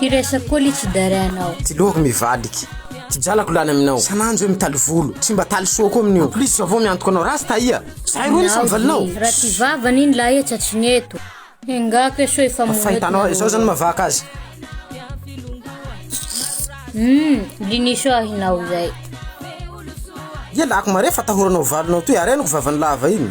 Ty resa poly tsy dare anao. Ty lohako mivaliky. Ty janako lany aminao. Sananjo hoe mitaly volo. Tsy mba taly soa koa amin'io. En plus zao vao miantoka anao rasta aia. Zahay roa nisa mivalinao. Raha ty vavany iny lahy etsa tsy ny eto. Enga ko eso efa moa eto. Fahitanao ahy zao zany mavaka azy. Hum liniso ahy nao zay. Ialako mare fatahoranao valinao toy ary ahy no ko vavany lava iny.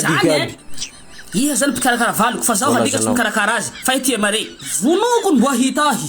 Zany e! Iza zany mpikarakara valiko fa zaho alika tsy mikarakara azy fa ity Mari. Vonoiko ny boahita ahy.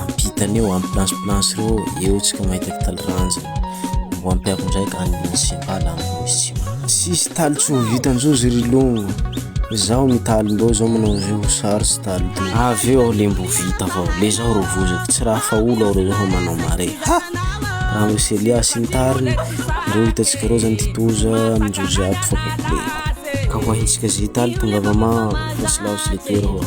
Ampitany eo, ampy planche planche reo eo tsika mahita kitaly ranja mbo ampiako ndray ka any Monsembala any Monsima sisy taly tsy ho vita njozy ry longo zaho mitaly ndao zao manao zay ho sary sy taly to avy eo aho le mbo vita avao le zaho ro vozako tsy raha fa olo aho re zaho manao mare ha raha misy Elias sy ny tariny reo hitantsika reo zany ty toza amin-jozy ato fa complet ka ho ahintsika zay taly tongava maro fa tsy laho tsy le toera hoa